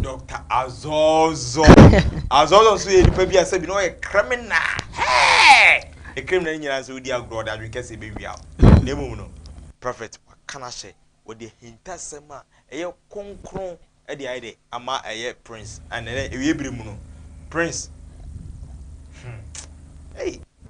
Doctor Azɔzɔ. Azɔzɔ nso yɛ nipa bi a sɛbi na ɔyɛ criminal. Hey! E criminal nyinaa nso wodi agorɔ ɔde adwene kɛse bɛ wia o. Na emom no, prophet waka no ahyɛ, wɔde ahintasɛm a ɛyɛ kronkron ɛde ayɛ dɛ ama ɛyɛ Prince. Ɛnɛ dɛ ewie bere mu no, Prince. Hmm. Hey!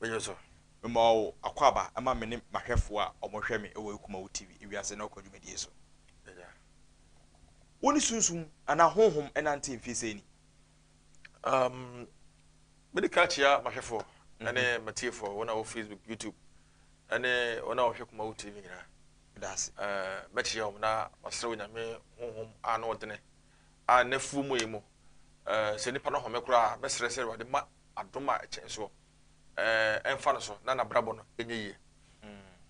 Bɛhwɛ so. Mema wo akwaaba ma me ne m'ahwɛfoɔ a wɔhwɛ me wɔ Akumawo TV ewiase ne ɔko dwumadie so. Agya, wo ne sunsum anaa honhom nante mfeɛ sei ni? Um, mede kan akyia m'ahwɛfoɔ ne mhm. m'atiefoɔ, wɔn a wɔ Facebook, YouTube, ne wɔn a wɔhwɛ Akumawo TV nyinaa. Daase. Uh, mɛkyia wɔn na masrɛ wɔ nyame honhom a na ɔdene a n'afuo mu yi mu. Uh, sɛ nipa no home koraa, mɛsrɛ sɛ Awurade ma adom a ɛkyɛn soɔ eh, ɛmfa no so na n'abrabɔ no ɛnyɛ yie.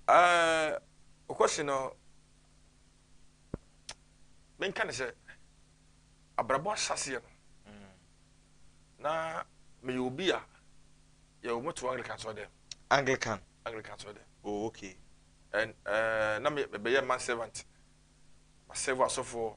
Eh, Okwasi no, menka ne sɛ abrabɔ ahyɛaseɛ no, na meyɛ obi a yɛwɔ moto Anglican sɔɔ dɛm. Anglican? Anglican sɔɔ dɛm. Oh, okay. And eh, na mebɛyɛ man servant, masɛvo asɔfoɔ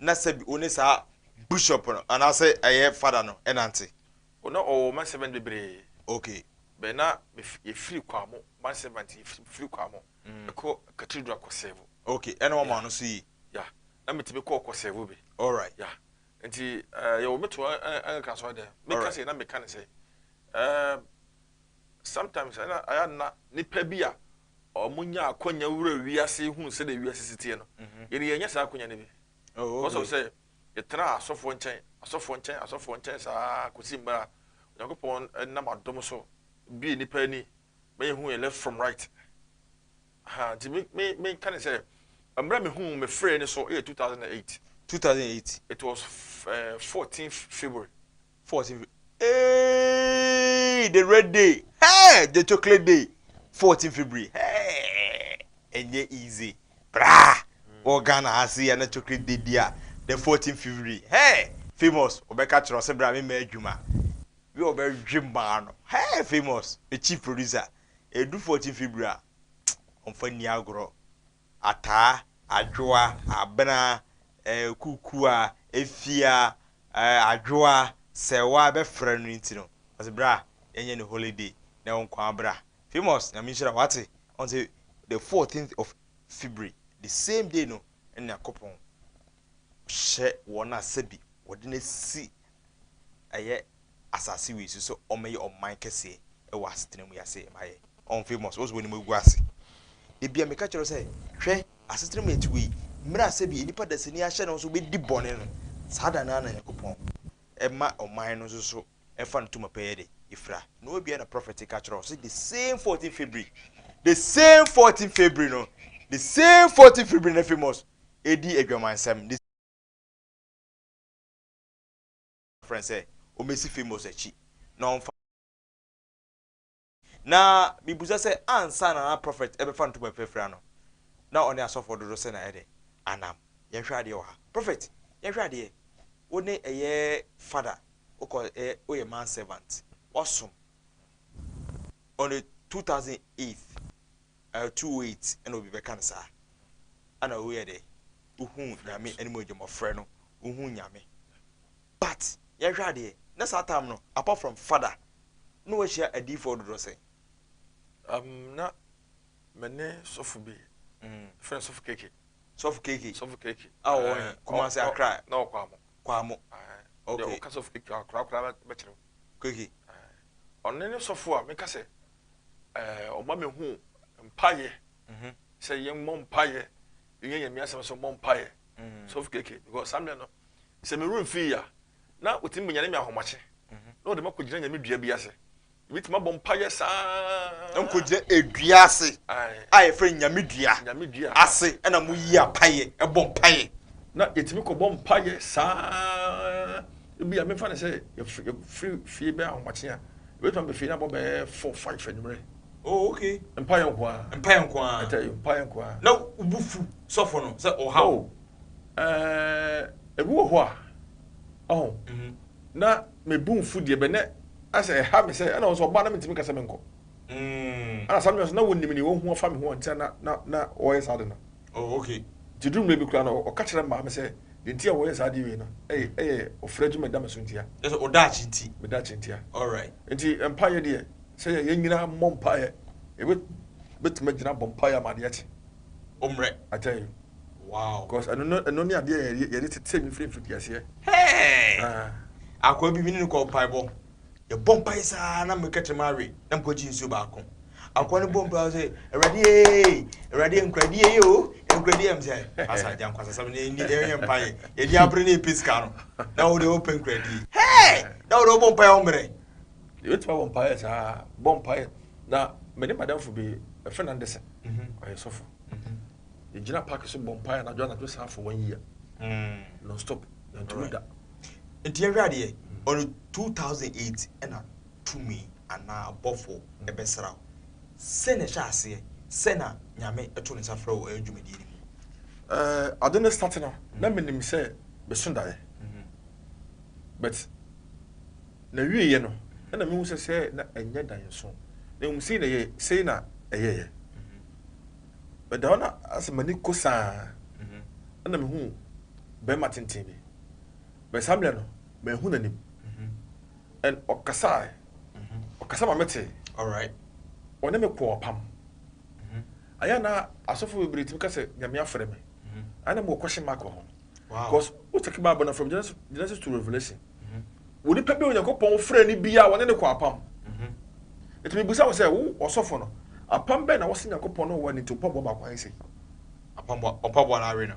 na sɛ bi ɔne saa bishop no anaasɛ ɛyɛ fada no ɛnante. O na ɔwɔ man servant bebree. Okay. Bɛ na yɛ firi kwamo man servant yɛ firi kwamo mm. ɛkɔ cathedral kɔ sɛvo. Okay ɛna wɔn ano so yi. Ya na mi ti mi kɔ kɔ sɛvo bi. Alright. Ya nti ɛɛ eh, yɛ wɔ mi to ɛn kan sɔrɔ dɛ mi ka sɛ na mi ka ne sɛ ɛɛ eh, sometimes ɛna ɛyɛ na nipa bi a. wɔnya akwanya wura wiase hu sɛdeɛ wiase si teɛ no, yɛn deɛ yɛnnya saa akwanya no bi. Because of sɛ yɛtena asɔfoɔ nkyɛn, asɔfoɔ nkyɛn, asɔfoɔ nkyɛn saa kɔsi mmerɛ a Onyankopɔn nam adom so bie nnipa ani ma yɛhu yɛn left from right. Aha, nti me, me, menka ne sɛ mmerɛ mehu me frɛ no so yɛ 2008. 2008. It was uh, eh, 14 February. Fourteen fifty hey the red day hey the chocolate day fourteen february hey ɛnyɛ easy braa wɔ ghana ha se yɛ na chocolate day bi a the fourteen february hey famous ɔbɛka kyerɛ ɔsɛ bra me ma adwuma bi ɔbɛdwe maa no hey famous the chief producer ɛdu fourteen february a ɔmfa nni agorɔ ataa, adwoa, abena, kukua, efia, adwoa, sɛwa bɛfrɛ no nti no ɔse bra yɛnyɛ no holiday na wo nkoaa bra Famous nyame nhyira wo wate ɔn se the fourteenth of February the same day no na Nyankopɔn hyɛ wɔn a sɛbi wɔde no asi ɛyɛ asase wei so sɛ ɔmmɛyɛ ɔman kɛseɛ wɔ asetena mu yi ase ma yɛ ɔn famous wose w'anim agu ase da bia meka kyerɛ sɛ hwɛ asetena mu yɛte wei mmerɛ a sɛbi nnipa dasani ahyɛ ne ho so bɛdi bɔne no saa da no ara na Nyankopɔn ɛma ɔman no nso so ɛfa no tuma pɛyɛ de ɛfira na ɔbia na prophet ka kyerɛ sɛ the same 14 February the same 14 February no the same 14 February na famous ɛdi adwamansɛm frɛ no sɛ ɔmmɛsi Famous akyi na ɔmfa Na mebisa sɛ ansa na na Prophet ɛbɛfa ntoma bi afira no, na ɔne asɔfoɔ dodoɔ sɛn na ɛdɛ anam? Yɛnhwɛ adeɛ wɔ ha. Prophet, yɛnhwɛ adeɛ, wo ne ɛyɛ Fada, wokɔ ɛ, woyɛ man servant, woasom on the 2008. Ɛyɛ two oh eight ɛna obi bɛka no saa ɛna woyɛ dɛ wohuu nyame animuonyam ɔfrɛ no wohuu nyame but yɛnhwɛ adeɛ na saa time no apart from fada na wahyia adiifoɔ dodoɔ sɛn um, na me ne sɔfo bi mm. fɛ no sɔfo keke sɔfo keke sɔfo keke a wɔwɔ he kumase akra na ɔkɔ amo kɔ amo okay ɔka sɔfo keke akora akora bɛkyerɛ keke ɔne ne sɔfo a meka sɛ ɛɛ ɔma mehu mpaeɛ mhm. sɛ yɛn mmɔ mpaeɛ yɛn yɛn mmiɛnsa sɛ ɔmmɔ mpaeɛ mhm. soft keke because saa mmerɛ no sɛ me room fii ya na otumi bɛnyane me ahomakye mhm. na ɔde ma kɔ gyina nyame dua bi ase ebi tuma bɔ mpaeɛ saa. nkogye edua ase a yɛfrɛ nyame dua nyame dua ase ɛna mo yi apaeɛ ɛbɔ mpaeɛ. na yɛtumi kɔ bɔ mpaeɛ saa Ebia mefa no sɛ yɛfiri fie bɛyɛ ahomakye a, yɛbɛtumi aba fie no abɔ bɛyɛ four five anwummerɛ. Oh okay. Mpaeɛ nko ara. Mpaeɛ nko ara. Ɛtaa yi mpaeɛ nko ara. Na wo bo fu sɔfo no sɛ ɔha wo? Oh, ɛɛ, ebi wɔ hɔ a, ɔho, na me bo nfu deɛ bɛ, na ayɛ sɛ ɛha me sɛ, ɛna wɔn nso wɔba a na mentumi nka sɛ menkɔ. Ɛna saa no nso na wɔnim nea wɔahu afa me ho a nti a na, na, na wɔyɛ saa ade no. Oh, ok. Nti duru mmerɛ bi koraa no, ɔka kyerɛ maa me sɛ deɛ nti a wɔyɛ saa adeɛ wei no, ɛyɛ ɔfrɛ adwuma a ɛda me so ntia. Kyerɛ sɛ, wo daakye nti. Me daakye ntia. Alright. Nti mpaeɛ deɛ, sɛ yɛn nyinaa mmɔ mpaeɛ, yɛbɛtumi agyina abɔ mpaeɛ ama adeɛ akye. Wo mmerɛ. I tell you. Wow. Cos ɛno ne adeɛ a yɛde tetee me firi mfitiaseɛ. Hey! Ah. Akoa bi, me ne no kɔɔ mpaebɔ. yɛbɔ mpae saa na meka kyerɛ mawe na mekɔgye nsuo baako akoa no bɔ mpae sɛ awurade ee awurade nkuradi yɛ o nkuradi yɛ m sɛ asa agya nkwasasɛm ne ɛni ɛyɛ mpae yɛde abere ne ɛpɛ sika no na wode wopɛ nkuradi hɛɛ na wode wobɔ mpae ɔmmerɛ yɛbɛtumi abɔ mpae saa bɔ mpae na mene madamfo bi ɛfɛ na ndesɛ mhm. ɔyɛ sɔfo mhm. yɛgyina park so bɔ mpae anadwo anadwo saa for one year mm. non stop yɛntumi da Nti yɛnhwɛ adeɛ, ɔno 2008 ɛna tumi anaa abɔfo ɛbɛsra wo. Sɛn na ɛhyɛ aseɛ? Sɛn na Nyame ɛto ne nsa frɛ wo ɛyɛ dwumadie no mu? Ɛɛ ade no starte no na menim sɛ meso daeɛ but na wieɛ no ɛna mehu sɛ sɛ na ɛnyɛ daeɛ nso na mmom sei na ɛyɛ sei na ɛyɛyɛ but da hɔ na asɛ m'ani ko saa ɛna mehu bɛrima tenten bi But saa mmerɛ no, manhu n'anim. And ɔkasae, ɔkasa ma metee. Ɔne me kɔɔ apam. Ayɛ a na asɔfo bebree tumi ka sɛ Nyame afrɛ me. Ayɛ na mewɔ question mark wɔ ho. Because wo take Bible no from Genesis to Revelation. Onipa bi a Onyankopɔn frɛ no biara wɔne no kɔ apam. Nti mebisa wo sɛ wo ɔsɔfo no, apam bɛn na wose Nyankopɔn ne wo wɔ ne nti mpaboa baako ahe sei? Mpaboa no awe no.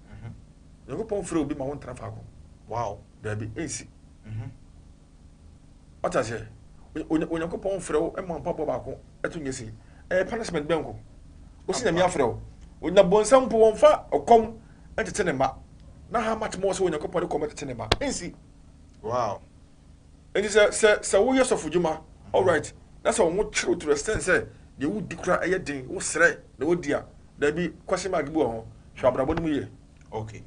Mhm. Nyankopɔn frɛ obi ma wo ntena faako. Wow. Daabi, ɛnsi. Mhm. Wata aseɛ? Onyankopɔn frɛ wo ma mpaboa baako ɛto nyɛ sei. Ɛyɛ punishment bɛn ko? Wosi nyame afrɛ wo. Onyina bonsam mpo wɔmfa ɔkɔm ɛtete ne mma. Na how much more sɛ Onyankopɔn de kɔm ɛtete ne mma. Ɛnsi. Wow. Enti sɛ, sɛ, sɛ woyɛ sɔfodwuma, alright, na sɛ wɔn kyerew to the extent sɛ deɛ wodi koraa ɛyɛ den, wosrɛ na wodi a, dabi, question mark bi wɔ ho. Hwɛ abrabɔ no mu yie. Ok.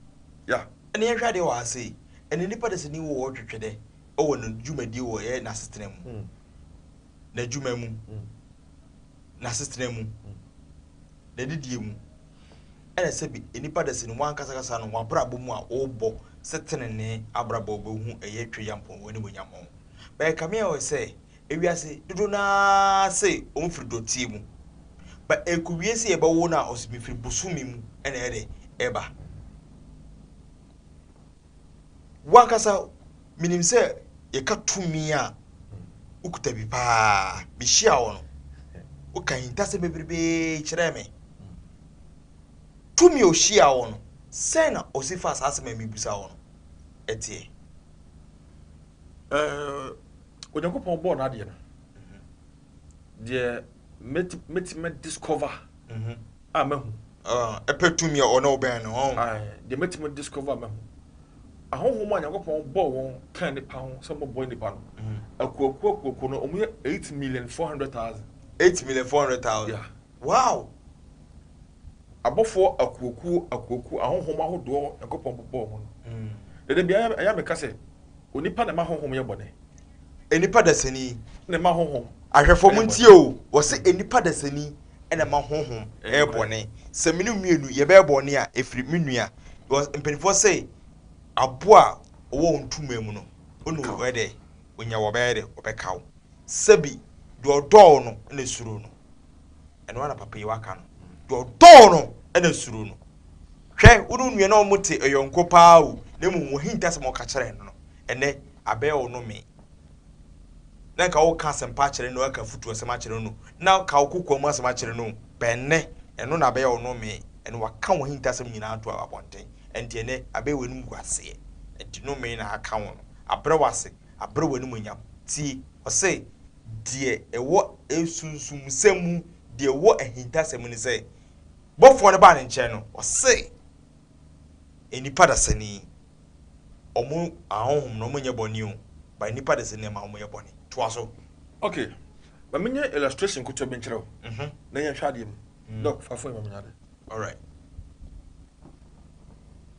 Yeah. Ɛnna yɛnhwɛ adeɛ wɔ ha sei. Ɛnna nnipa dasani wɔ hɔ twetwe dɛ wɔ ne dwumadie wɔ ɛyɛ n'asetena mu, n'adwuma mu, n'asetena mu, n'adidie mu. Ɛna sɛ bi nnipa da sɛ ni w'ankasakasa no w'abrabɔ mu a wobɔ sɛ tenenee abrabɔ wobɛhu ɛyɛ twe Nyankpɔn w'animuonyam ho. But ɛkame ayɔ sɛ ewiase dodoɔ no ara se ɔmo firi dɔteɛ mu ba ɛko wie se yɛbɛwo no a ɔse mefiri bosome mu ɛna ɛdɛ ɛba. W'ankasa menim sɛ yɛka tumi a wokuta bi paa. Mehyia wo no, woka ahintasɛm bebrebee kyerɛɛ me. Tumi a ohyia wo no, sɛn na ɔsi fa saa asɛm a mebisa wo no ɛteɛ? Onyankopɔn bɔɔ n'adeɛ no, deɛ mɛtumi discover mhm. a mahu. Ɔh, pɛ tumi a ɔne wo bɛn no, ɔh. Ae, deɛ matumi discover a mahu. Ahonhom a Nyankopɔn bɔɔ wɔn kaa nnipa ho sɛ wɔbɛboa nnipa no, akuoakuo akuoakuo no, wɔyɛ eight million four hundred thousand. Eight million four hundred thousand? Yeah. Wow! Abɔfoɔ akuokuo akuokuo, ahonhom ahodoɔ Nyankopɔn bobɔɔ wɔn no. Dada biara ɛyɛ a meka sɛ, onipa na ɛma ahonhom yɛ bɔne. nnipa dasani na ɛma honhom. Ahwɛfo mo ntie o, wɔse nnipa dasani na ɛma honhom yɛ bɔne. Sɛ me ne wo mmienu yɛbɛyɛ bɔne a, ɛfiri me nua. Because mpanimfoɔ se aboa a ɔwɔ wo ntoma mu no, wo ne ɔyɛ dɛ? Ɔnya wo a ɔbɛyɛ dɛ? Ɔbɛka wo. Sɛbi deɛ ɔdɔ wo no na ɛsuro no. ɛno ara na papa yi waka no, deɛ ɔdɔ wo no na suro no. Hwɛ, wo ne wo nua na wɔte yɔnko pa ara o, na mmom w'ahintasɛm a woka kyerɛɛ no no, ɛnnɛ abɛyɛ wo nnome. Na nka woka asɛmpa akyerɛ no, woka afutuasɛm akyerɛ no, na woka wo kokoa mu asɛm akyerɛ no, bɛn nnɛ ɛno na abɛyɛ wo nnome, ɛnna waka w'ahintasɛm nyinaa ato abɔnten. Ɛnti ɛnnɛ abɛyɛ w'animguaseɛ, ɛnti nnome na aka wo no, abrɛ wo ase, abrɛ wo animuonyam. Tie! Ɔse, Deɛ ɛwɔ asunsumsɛm mu, deɛ ɛwɔ ahintasɛm mu ne sɛ, bɔfoɔ no baa ne nkyɛn no, ɔse, Nnipa dasani, wɔn ahonhom no, wɔnyɛ bɔne o, but nnipa dasani na ɛma wɔyɛ bɔne. Toa so. Ok, ma me nyɛ illustration nketewa bi nkyerɛ wo, na yɛnhwɛ adeɛ mu. Doc, fa phone yi ma me nyɛ adeɛ. Alright.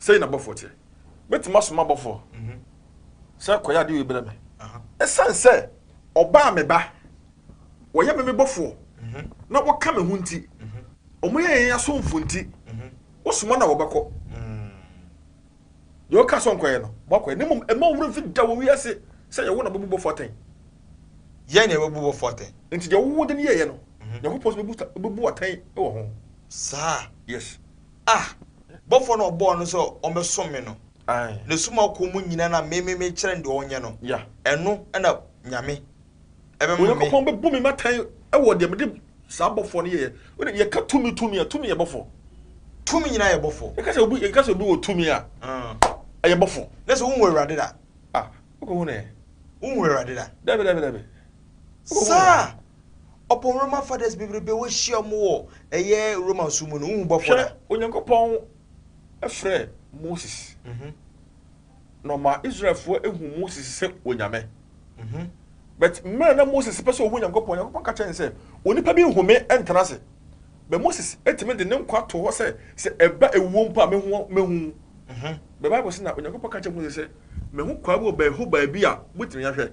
Sɛi na bɔfoɔ teɛ. Mɛtumi asoma bɔfoɔ sɛ kɔyɛ adeɛ wei berɛ me. Ɛsiane sɛ ɔba a me ba, wɔyɛ me me bɔfoɔ na wɔka me ho nti, wɔyɛ yɛn asomfoɔ nti, wosoma na wɔbɛkɔ. Deɛ ɔka sɛ ɔnkɔyɛ no, moakɔyɛ. Na mmom ɛma wo werɛ mfi da wɔ wiase sɛ yɛwo na bɛbu bɔfoɔ atɛn. Yɛn na yɛbɛbu bɔfoɔ atɛn. Enti deɛ wowɔ de no yɛeɛ no, Nyankopɔn nso bɛbu atɛn wɔ ho. Saa? Yes. Ah! Bɔfoɔ no a ɔbɔɔ no sɛ ɔmmɛsom me no, Aye. n'asum a ɔkɔ mu nyinaa na me, me, mekyerɛ no deɛ ɔnyɛ no, Yeah. ɛno na Nyame ɛbɛma me. Onyankopɔn bɛbu me atɛn wɔ deɛ mede saa bɔfoɔ no yɛeɛ. Wode, yɛka tumi, tumi a, tumi yɛ bɔfoɔ. Tumi nyinaa yɛ bɔfoɔ. Yɛka sɛ obi, yɛka sɛ obi wɔ tumi a, Ah. ɛyɛ bɔfoɔ. Na sɛ wohu Awurade da? Ah, wokɔhu no ɛ? Wohu Awurade da? Dabi, dabi, dabi. Saa ɔpon Roman fathers bebrebe wohyia mo wɔ ɛyɛ Roman so mu no, wohu bɔfo da. Hwɛ, Onyankopɔn frɛ Moses, na ɔma Israelfoɔ hu Moses sɛ Onyame. But mmerɛ na Moses pɛ sɛ ɔhu Onyankopɔn, Onyankopɔn ka kyerɛ no sɛ, onipa bi nhu me ntena ase. But Moses tumi de ne nkwa to hɔ sɛ, sɛ ɛba awuo mpo a, mɛhu, mɛhu. But Bible sɛ na Onyankopɔn ka kyerɛ Moses sɛ, mahu kwaa bi wɔ baabi, hɔ baabi a, motumi ahwɛ.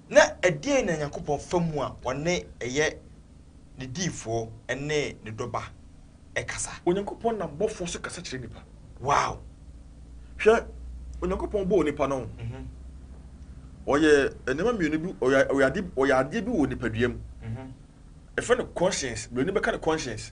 Na ɛdeɛn na Nyankopɔn fa mu a ɔne, ɛyɛ, Ne diyifoɔ ne Ne dɔba kasa? Onyankopɔn nam bɔfoɔ so kasa kyerɛ nnipa. Wow! Hwɛ, Onyankopɔn bɔɔ nnipa no, ɔyɛ nneɛma mmienu bi, ɔyɛ, ɔyɛ adeɛ, ɔyɛ adeɛ bi wɔ nipadua mu. Yɛfrɛ no conscience, Buroni bɛka no conscience.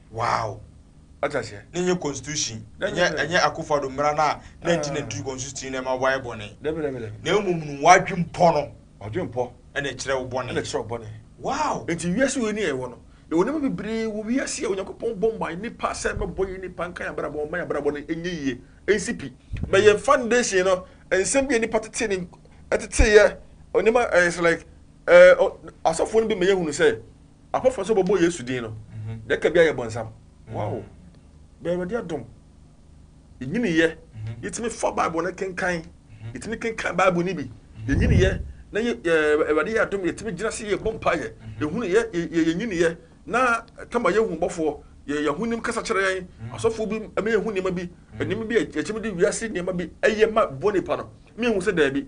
Wow! Wate aseɛ? Ne nyɛ constitution. Ɛnyɛ ɛnyɛ Akufo Addo mmara no a 1993 constitution na ɛma wɔayɛ bɔne. Dabi dabi dabi. Na mmom no w'adwempɔ no. W'adwempɔ. Ɛna ɛkyerɛ wo bɔne. Ɛna ɛkyerɛ wo bɔne. Wow! Nti wiase wei ni a yɛwɔ no, yɛwɔ nneɛma bebree wɔ wiase a Onyankopɔn bɔ maa nnipa sɛ ɛbɛbɔ yɛn nnipa nka yɛn abrabɔ mma yɛn abrabɔ no nyɛ yie nsi pi. But yɛn foundation no, nsɛm bi a nnipa tetee ne ɛteteeɛ nneɛma ɛyɛ sɛ like ɛɛ asɔfoɔ no bi ma yɛhunu sɛ Afɔfɔ nso bɔbɔ Yesu din no dɛ kɛ bi ayɛ bɔnsam. Wow! Bɛ Awurade adom yenyiniyɛ yetumi fa Bible no kenkan, yetumi kenkan Bible no bi, yenyiniyɛ na yɛ Awurade yɛ adom yetumi gyina se yebɔ mpaeɛ, yehunu yɛ yɛ yenyiniyɛ na tama yehu bɔfoɔ, yɛ yɛhonim kasa kyerɛ yɛn, asɔfoɔ bi ma yehu nneɛma bi, nneɛma bi a yɛkyɛm de wiase nneɛma bi ɛyɛ ma bɔnipa no ma yehu sɛ daabi.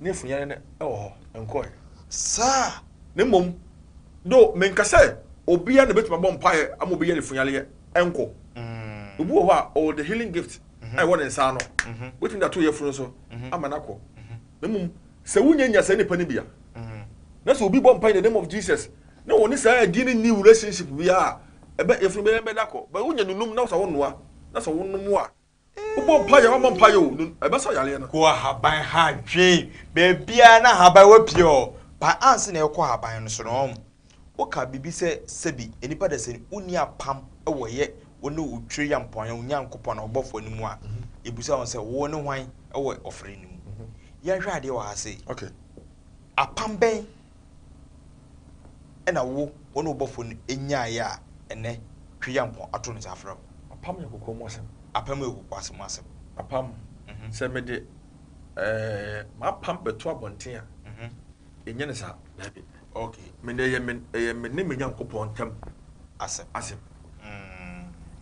ne funyanne no wɔ hɔ, ɛnkɔe. Saa, na mmom, though menka sɛ obiara na obetumi abɔ mpae ama obi yɛ ne funyaneyɛ nko. Obi wɔ hɔ a, ɔwɔ the healing gift a ɛwɔ ne nsa ano, obetumi de ato yafunu so ama no akɔ. Na mmom, sɛ wunya nya saa nipa no bi a, na sɛ obi bɔ mpae in the name of Jesus, na wɔne saa din no nni relationship biara a, ɛbɛ, yafunu bɛyɛ bɛda kɔ. But wunya nunum na sɛ wonoa, na sɛ wonom a, Wobɔ mpaeɛ o, wommɔ mpaeɛ o, no, ɛbɛsa yareɛ no. Kɔ ahaban ha dwen baabiara na ahaban wɔ pie hɔ. Pae ansa na yɛkɔ ahaban no so no, ɔn. Woka biribi sɛ, Sɛbi, nnipa da sɛ no, wonni apam wɔ yɛ, wo ne wo Twerɛyampɔn, wo Nyankopɔn, Ɔbɔfoɔ no mu a, yɛbisa wo sɛ, Wo ne hwan wɔ ɔfrɛ no mu? Yɛnhwɛ adeɛ wɔ ha sei. Okay. Apam bɛn? na wo wo ne wo bɔfo no nyaeɛ a ɛnnɛ Twe yɛ nko ato ne nsa afrɛ wo. Apam yɛ kokoa mu asɛm. Apam yɛ kokoa mu asɛm. Apam, Sɛ mede m'apam bɛto abɔnten a, ɛnyɛ ne saa. Daabi. Ok. Me ne ɛyɛ me ɛyɛ me ne me Nyankopɔn ntam asɛm. asɛm.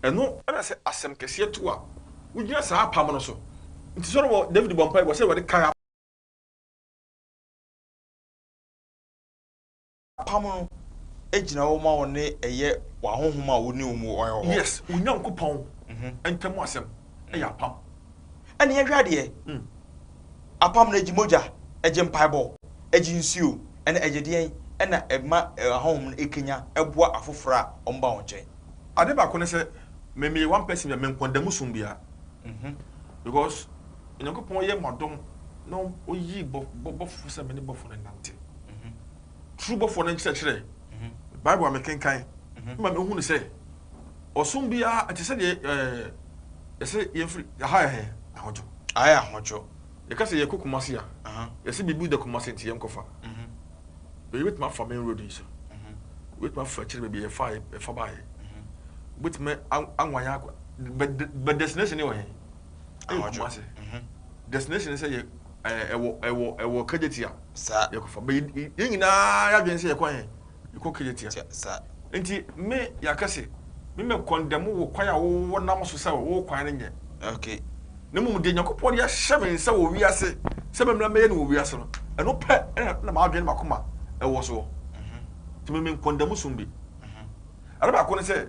Ɛno na sɛ asɛm kɛseɛ to a, wogyina saa apam no so. Nti Solomon, David bɔɔ mpaeɛ, ɔsɛ Awurade kae apam. Apam no gyina hɔ ma wo ne ɛyɛ w'ahonhom a wo ne wɔn wɔ hɔ. Yes, wo Nyankopɔn ntam asɛm yɛ apam. Ɛna yɛhwɛ adeɛ, apam no ɛgye mogya, ɛgye mpaebɔ, ɛgye nsuo, ɛna ɛgye deɛn? Ɛna ɛma ahonhom no ɛkanya ɛboa afoforɔ a wɔn ba wɔn nkyɛn. Adeɛ baako ne sɛ, me meyɛ one person bi a menkɔndamu som biara because Onyankopɔn yɛ mo adom na ɔyii bɔ bɔfoɔ sɛ mene bɔfoɔ no nnante. Turo bɔfoɔ no nkyerɛkyerɛ, Bible a mekenkan ma mehunu sɛ ɔsom biara ɛte sɛ deɛ yɛsɛ yɛmfiri aha yɛ hɛn ahodwo. Aha yɛ ahodwo. Yɛka sɛ yɛkɔ Kumasi a, yɛsɛ biribi da Kumasi nti yɛnkɔfa. Baabi bɛtumi afa main road yi so. Wobɛtumi afa akyire baabi yɛfa yɛfa baeɛ. Wobɛtumi anwan akɔ, but the destination no wɔ he? Ɛyɛ Ahɔdwo. Kumasi. Mhm. Destination ne sɛ yɛ ɛɛ ɛwɔ ɛwɔ ɛwɔ Kejetia. Saa. Yɛkɔfa. Bɛ yɛ yɛn nyinaa yɛadwene sɛ yɛkɔ yɛn yɛkɔ Kejetia. Tia. Saa. Nti me yɛaka se me mɛ kɔndɛmu wo kwan a wo wo nam so sɛ wo kwan no nyɛ. Okay. Na mmom deɛ Nyankopɔn de ahyɛ me nsa wɔ wiase sɛ me mmra mɛyɛ no wɔ wiase no ɛno pɛ ɛna na m'adwene ne m'akoma ɛwɔ soɔ. Nti me me nkɔndɛmu som bi. Ade baako ne sɛ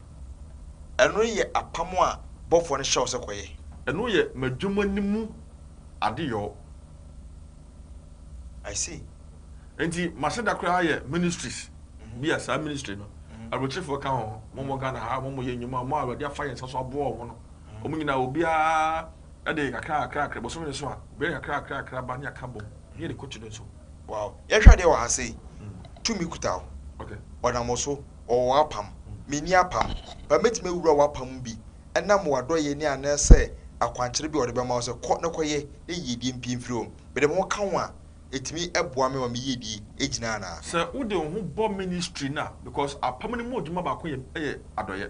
Ɛno yɛ apam a bɔfoɔ no hyɛ wo sɛ kɔyɛ. Ɛno yɛ m'adwuma no mu adeyɔ. I see. Nti m'aseda koraa yɛ ministries bi a saa ministry no aburokyefoɔ ka ho, wɔn wɔ Ghana ha a wɔn yɛ nnwuma, wɔn a Awurade afa yɛn nsa so aboa wɔn no, wɔn nyinaa obiara de kakra kakra kakra, bosome no so a obiara de kakra kakra kakra ba ne yɛaka bom ne yɛde kɔ kyidɔm so. Wow. Yɛhwɛ adeɛ wɔ ha sei, tumi kuta wo, Okay. ɔnam wo so. Ɔwɔ w'apam, menni apam. Ba mɛtumi awura w'apam mu bi ɛnam w'adɔeɛ ne anaa sɛ akwankyerɛ bi a ɔde bɛma wo sɛ kɔ na kɔyɛ na yiedie mpue mfiri hɔ. Mede me ho ka ho a, ɛtumi boa me ma me yiedie gyina anaa? Sɛ wode wo ho bɔ ministry no a, because apam no mu adwuma baako yɛ yɛ adɔeɛ.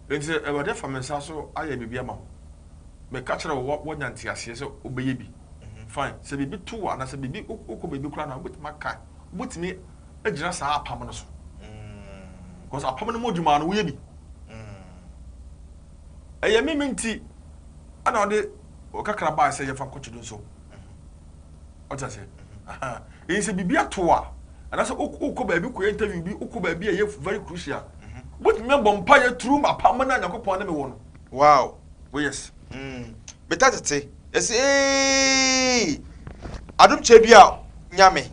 Enti sɛ Awurade afa me nsa so ayɛ biribi ama wo, meka kyerɛ wo wɔ woanya nteaseɛ sɛ wobɛyɛ bi, fine. Sɛ biribi to wo anaa sɛ biribi wokɔ baabi koraa na wobɛtumi aka, wobɛtumi gyina saa apam no so because apam no mu adwuma no woyɛ bi ɛyɛ me me nti ɛna ɔde ɔkakra baa sɛ yɛfa nkɔkye do nso ɔte ase ɛyɛ sɛ biribi ato a anaasɛ wokɔ baabi kɔyɛ interview bi wokɔ baabi a ɛyɛ very crucial wobɛtumi abɔ mpa yɛ turu ma apam no a nyankopɔn ne me wɔ no wow oh yes mm. bɛta tete ɛsɛ adom kyɛ bi a nyame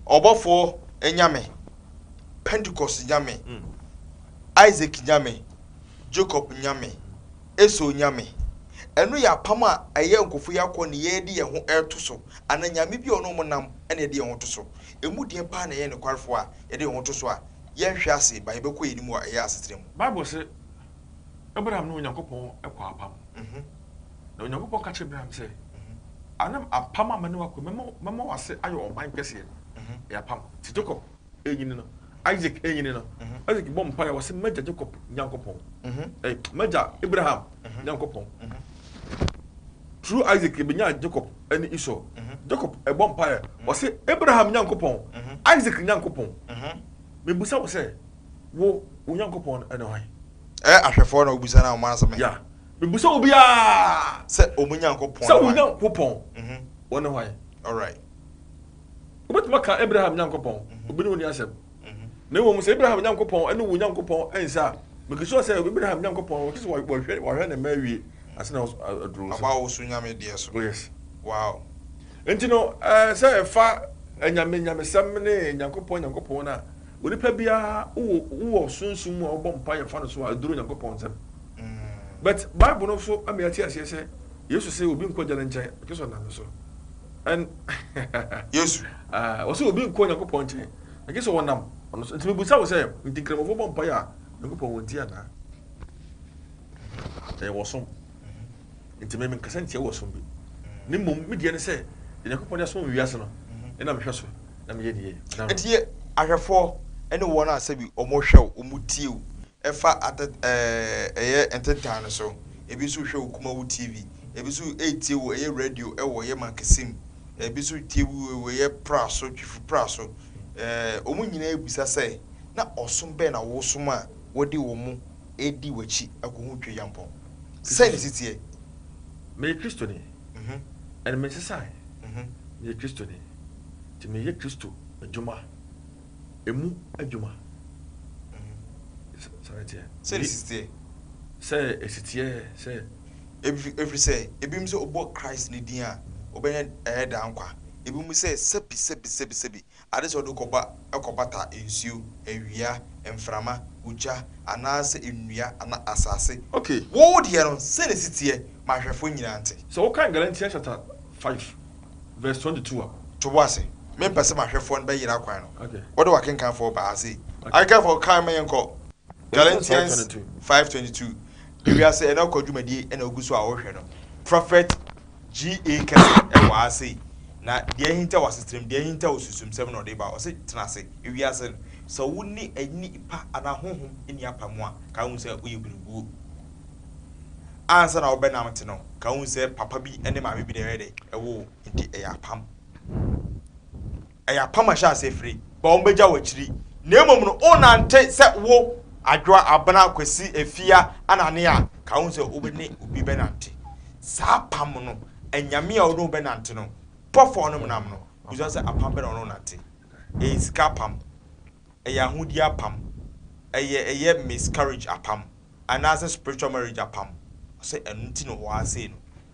Ɔbɔfoɔ Nyame, Pentecost Nyame, Isaac Nyame, Jacob Nyame, Esau Nyame. Ɛno yɛ apam a ɛyɛ nkurɔfoɔ yi akɔ ne yɛ de yɛn ho reto so, anaa Nyame bi a ɔne wɔn nam na yɛde yɛn ho to so. Ɛmu deɛn paa na yɛyɛ nokwarefoɔ a yɛde yɛn ho to so a yɛnhwe ase ba yɛbɛkɔ yɛn anim a ɛyɛ asetena mu? Bible se Abraham ne Onyankopɔn kɔɔ apam. Na Onyankopɔn ka kyerɛɛ Abraham sɛ, Anam apam a mene wo akɔ mu, mɛma w'ase ayɛ ɔman kɛseɛ no, ɛyɛ apam. Te Jacob renyini no, Isaac renyini no, Isaac bɔ mpaeɛ, ɔse, M'agya Jacob Nyankopɔn, ɛɛ, m'agya Abraham Nyankopɔn. Through Isaac, yɛbɛnyaa Jacob ne Esau. Jacob bɔ mpaeɛ, ɔse, Abraham Nyankopɔn, Isaac Nyankopɔn, mebusa wo sɛ, wo, wo Nyankopɔn no ne hwan? Ɛyɛ ahwɛfoɔ na wobisa no a, wɔn asɛm ɛ? Yeah. Mebisa obiara. Sɛ wɔn Nyankopɔn ne hwan? Sɛ wo Nyankopɔn, ɔne hwan? Alright. Wobɛtumi aka Abraham Nyankopɔn, obi ne wo nni asɛm. Na mmom sɛ Abraham Nyankopɔn ne wo Nyankopɔn nsa a, mekisua sɛ Abraham Nyankopɔn wɔte sɛ wɔhwɛ wɔhwɛ ne mma awie ansa na aduru so. Aba a wɔso nyame deɛ so. Oh yes. Wow. Nti no ɛɛ sɛ ɛfa anyame nyamesɛm ne Nyankopɔn Nyankopɔn no a, onipa biara wowɔ wowɔ sunsum mu a wobɔ mpaeɛ fa no so a aduru Nyankopɔn nsam. But Bible no so ama yɛate aseɛ sɛ Yesu sɛ obi nkɔ Agya no nkyɛn, ɔgye sɛ ɔnam me so. And Yesu ah, ɔsɛ obi nkɔ Onyankopɔn nkyɛn, ɔgye sɛ ɔnam ɔno so. Nti mebusa wo sɛ, nti Nkramofoɔ bɔ mpaeɛ a, Nyankopɔn wɔntie anaa? Ɛyɛ wɔsom. Enti me, menkasa ntia wo ɔsom bi, na mmom me deɛ ne sɛ, deɛ Onyankopɔn de asom wɔn wiase no, mhm. na mehwɛ so, na meyɛ ne yie. Enti yɛ ahwɛfoɔ ne wɔn a sɛbi wɔhwɛ wo, wɔtie wo, ɛfa atɛ ɛyɛ ntentan no so, ebi nso hwɛ wo kuma wo TV, ebi nso ɛretie wo ɛyɛ radio ɛwɔ yɛ mankesi mu, ebi nso tie wo ɛyɛ pra so, twifi pra so. Wɔn nyinaa bisa sɛ, na ɔsom bɛn na wɔsom a wɔde wɔn Edi w'akyi akohu Tweyampɔn. Sɛn ne si teɛ? Meyɛ Kristoni, ɛnna mensesae. Meyɛ Kristoni, enti meyɛ Kristo adwuma, emu adwuma. Sɛn ne teɛ? Sɛn ne si teɛ? Sɛ esi teɛ sɛ. Ɛfiri sɛ, ebinom sɛ wɔbɔ Christ ne din a, wɔbɛnya ɛyɛ daa nkwa. Ebinom sɛ, sɛbi, sɛbi, sɛbi, sɛbi, Ade sɛ wode kɔba kɔbata nsuo, awia, mframa, ogya, anaasɛ nnua anaa asase. Ok, wo deɛ no, sɛ na ɛsi teɛ, ma ahwɛfoɔ nyinaa nte. Sɛ wokan Galatians chapter five verse twenty two a. To wo ase, mempɛ sɛ m'ahwɛfoɔ no bɛyera kwan no. Ok. Wode w'akenkanfoɔ baa ha sei. Ok. Akenkanfoɔ, kan ma yɛnkɔ Galatians five twenty two. Ewiase ɛnnɛ kɔ dwumadie na wogu so a wohwɛ no. Prophet GA kɛse ɛwɔ ha sei, na deɛ ahintaw asetram, deɛ ahintaw osunsumsɛm na ɔde ba. Ɔse tena ase, ewiase no, sɛ wo ne ani pa anaa honhom nni apam a, ka wohu sɛ woyɛ berebuo. Ansa na wobɛ nam te no, ka wohu sɛ papa bi ne maame bi na ɛyɛ dɛn? Ɛwoo wo, nti ɛyɛ apam. Ɛyɛ apam a ɛhyɛ aseɛ fire, bɔ a wɔbɛgya wɔ akyiri, na mmom no wonante sɛ wo, Adwoa, Abena, Kwasi, Afia, Anane a, ka ho sɛ wobɛne obi bɛnante. Saa apam no, anyame a wode ho bɛnante no, bɔ fɔ wɔnom nam no, bisa sɛ apam bɛ na wɔne wo nante. Ɛyɛ sika apam, ɛyɛ ahodie apam, ɛyɛ ɛyɛ miscarriage apam, anaasɛ spiritual marriage apam. Ɔsɛ ɛno nti na ɔwɔ ha sei no.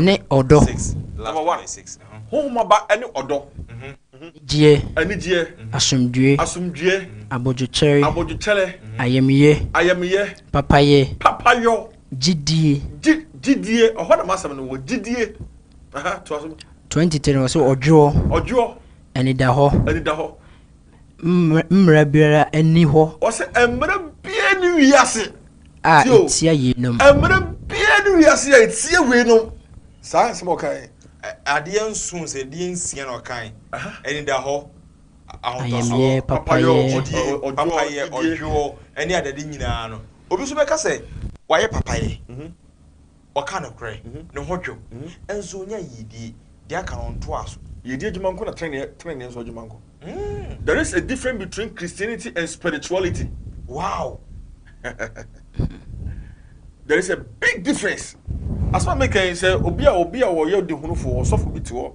ne ɔdɔ. Honhomaba ne ɔdɔ. Anigyeɛ. Anigyeɛ. Asomdwoeɛ. Asomdwoeɛ. Abodwokyɛre. Abodwokyɛrɛ. Ayamyɛ. Ayamyɛ. Papayɛ. Papayɔ. Gyidie. Gyi, gyidie, ɛhɔ na m'asɛm no wɔ, gyidie. Aha, toa so. 23 no, ɔse ɔdwoɔ. Ɔdwoɔ. Anidahɔ. Anidahɔ. Mmara biara nni hɔ. Ɔse mmara biara nni wiase. A ɛtia yeinom. Mmara biara nni wiase a ɛtia weinom. Saa nsɛm ɔkae. Adeɛ nson sɛ deɛ nsia na ɔkae. Anidahɔ, ahotɔsoɔ, papayɔ, papayɛ, ɔdwoɔ, ne adadi nyinaa no. Obi nso bɛka sɛ wayɛ papayɛ. Ɔka nokorɛ, ne ho dwo, nso ɔnya yiedie, deɛ aka no ɔntoa so. Yiedie adwuma nko na teneneɛ, teneneɛ nso adwuma nko. There is a difference between Christianity and spirituality. Wow! There is a big difference. Asɛm a meka yi, sɛ obi a obi a ɔyɛ ɔdehunufo, ɔsɔfo bi te hɔ.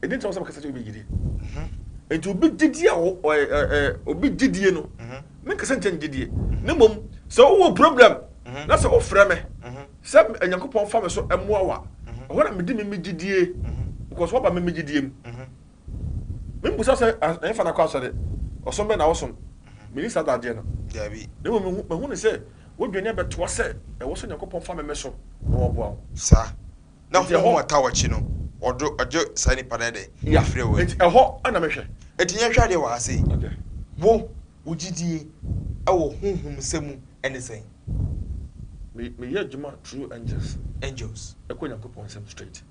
Ɛdi nti na ɔsɛ mekasa kyerɛ obi gyidie. Nti obi gyidie a obi gyidie no, menkasa nkyɛ ne gyidie. Ne mmom, sɛ wowɔ problem na sɛ wofrɛ me sɛ Nyankopɔn fa me so mmoa wa, ɛhɔ na mede me me gyidie because waba me me gyidie mu. Membusa sɛ ɛmfa na kɔ asɔre, ɔsom bɛ na wosom. Meni saa dadeɛ no. Ne mmom mahu ne sɛ wodwane abɛtoa sɛ ɛwɔ sɛ Nyankopɔn fa me me so na wɔboa wo. Saa. Na hom hu ɔtaa ɔkye no, ɔdo ɔgye saa nyimpa no dɛ efirɛ hɔ yi. Ntsi hɔ na mehwɛ. Ntsi nyɛ hwɛ adeɛ wɔ ha sei. Wo, wo gyidie wɔ honhom nsɛm mu ne sɛn? Me, meyɛ adwuma through angels. Angels. Ɛkɔ Nyankopɔn nsɛm straight.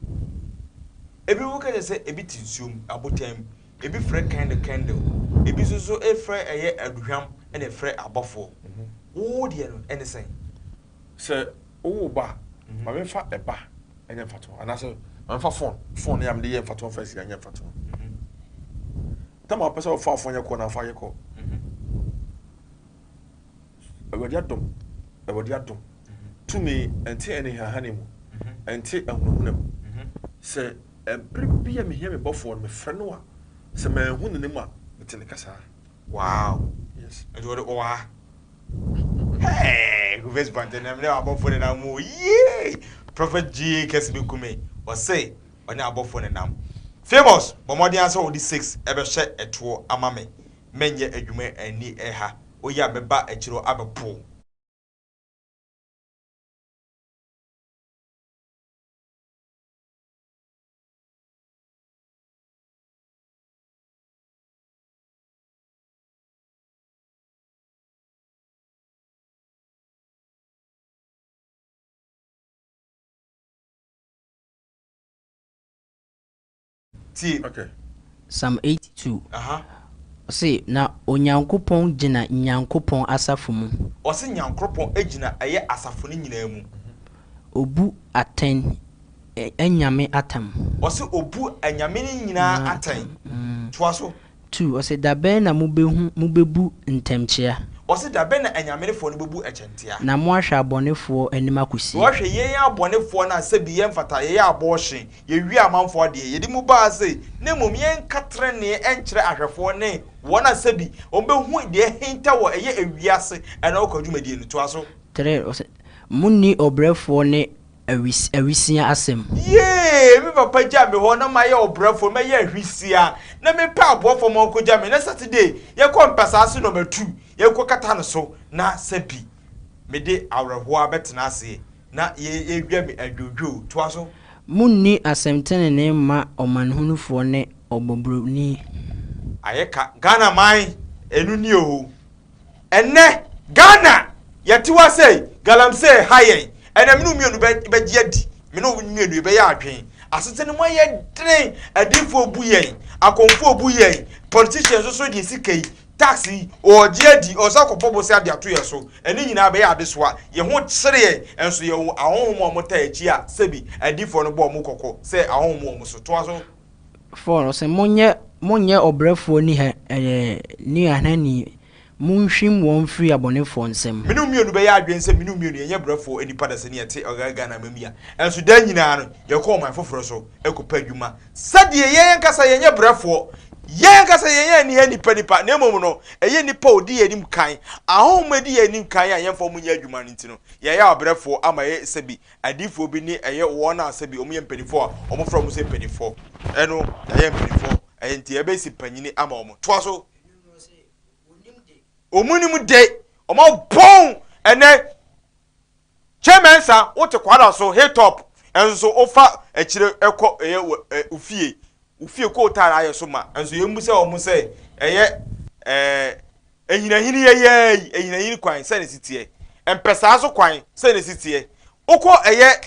Ebinom ka kyerɛ sɛ ebi te nsuo mu, abotan mu, ebi frɛ candle candle, ebi nso so frɛ ɛyɛ aduhwam na ɛfrɛ abɔfoɔ. Wo deɛ no ne sɛn? Sɛ wowo ba a, ma memfa ɛba nyɛ mfatoho anaasɛ ma memfa fon, fon no yɛ a mede yɛ mfatoho mfa sika nyɛ mfatoho. Tam a wopɛ sɛ wofa fon yɛ kɔ na afa yɛ kɔ. Awurade adom, Awurade adom. Tumi ɛnte anihahane mu, ɛnte ahunahuna mu. Sɛ ɛbere bi a mehia me bɔfoɔ no, mefrɛ no a, sɛ manhu n'anim a, mete ne kasaa. Wow, yes, ɛnti ɔde ɔwaa. Hey! Who face bɔntene na mene w'abɔfoɔ nenam mu o yee! Prophet Gyee kɛse bɛku me, ɔse ɔne abɔfoɔ nenam. Famous, bɔ mmɔden ara sɛ wode six bɛhyɛ toɔ ama me, menyɛ adwuma anni ha, woyɛ a mɛba akyire hɔ abɛpo wo. Tie. Okay. Psalm 82. Aha. Ɔse na Onyankopɔn gyina Nyankopɔn asafo mu. Ɔse Nyankopɔn gyina ɛyɛ asafo no nyinaa mu. Obu atɛn anyame atam. Ɔse obu anyame no nyinaa atɛn. Toa so. 2 ɔse da bɛn na mobehu, mobebu, ntɛmkyea. Ɔse da bɛn na anyamerefoɔ no bebu ɛkyɛntea. Na moahwɛ abɔnefoɔ anim akosi. Na ɔhwɛ yɛn abɔnefoɔ no a sɛbi yɛmfata, yɛyɛ abɔɔhye, yɛwie amanfoɔ adeɛ, yɛde mu ba ase, na mmom yɛnka trenee nkyerɛ ahwɛfoɔ ne wɔn a sɛbi wɔbehu deɛ ahinta wɔ ɛyɛ ewiase ɛna ɔkwa dwumadie no. Toa so. 3 ɔse monni ɔbrɛfoɔ ne Awis awisia asɛm. Yee! Me papa gyaa me hɔ na mayɛ ɔbrɛfo, mɛyɛ ahwisia, na mepɛ aboafo ma wɔkogya me, na Saturday yɛkɔ mpasaa so na matu, yɛkɔkata no so, na sɛbi mede awerɛhowa bɛtena ase, na yɛawia me adwodwoo. Toa so. Munni asɛm tenenee mma ɔmanhunufoɔ ne ɔbɔbroni. Ayɛ ka, Ghana man, ɛno nie oo. Ɛnnɛ, Ghana, yɛte hɔ ara sɛi, galamsey reha yɛn. Ɛnnɛ, me ne wo mmienu bɛ, bɛgye adi. Me ne wo mmienu yɛbɛyɛ adwene. Asetena no mu ayɛ den. Adiyifoɔ rebu yɛn. Akɔmfoɔ rebu yɛn. Politicians nso deɛ sika yi, tax yi, wɔregye adi, wɔsan akɔbɔ bosea de ato yɛn so. Ɛne nyinaa ɛbɛyɛ adesoa. Yɛn ho kyere yɛn. Ɛnso yɛwɔ ahonhom a wɔtaa yɛn akyi a, sɛbi, adiyifoɔ no bɔ wɔn kɔkɔ sɛ ahonhom wɔ wɔn so. Toa so. fɔɔ no se, Monyɛ monyɛ ɔbrɛfoɔ ni hɛ ɛɛ nuahanni, monhwim wɔn firi abɔnefoɔ nsam. Me ne wo mmienu bɛyɛ adwene sɛ me ne wo mmienu yɛnyɛ brɛfoɔ nnipa da sɛdeɛ ɛte ɔyɛ Ghana amam yi a ɛnso daa nyinaa no yɛkɔ ɔman foforɔ so kɔpɛ adwuma sɛdeɛ yɛn ankasa yɛnyɛ brɛfoɔ, yɛn ankasa yɛnyɛ ani hɛ nnipa nnipa na mmom no ɛyɛ nnipa a wɔdi yɛn anim kan, ahɔhom a wɔdi yɛn anim kan a yɛmfa wɔn nyɛ adwuma no nti no yɛayɛ abrɛfoɔ ama yɛayɛ sɛbi Adiyifoɔ bi ne ɛyɛ wɔn a sɛbi wɔn yɛ mpaninfoɔ a wɔn frɛ wɔn sɛ mpaninfoɔ ɛno yayɛ mpaninfoɔ ɛyɛ nti yɛbɛ si panyini ama wɔn toa so wɔn nim de wɔn abɔn ɛnɛ kyɛ mɛnsa wote kwara so hit up ɛnso wofa akyire ɛkɔ ɛyɛ ofie ofie kootaara ayɛ so ma ɛnso yɛn mu sɛ wɔn sɛ ɛyɛ ɛɛ. Ahinahini yɛyɛɛyi, ahinahini kwan sɛ ne si teɛ. Mpɛsaa so kwan sɛ ne si teɛ. Wokɔ ɛyɛ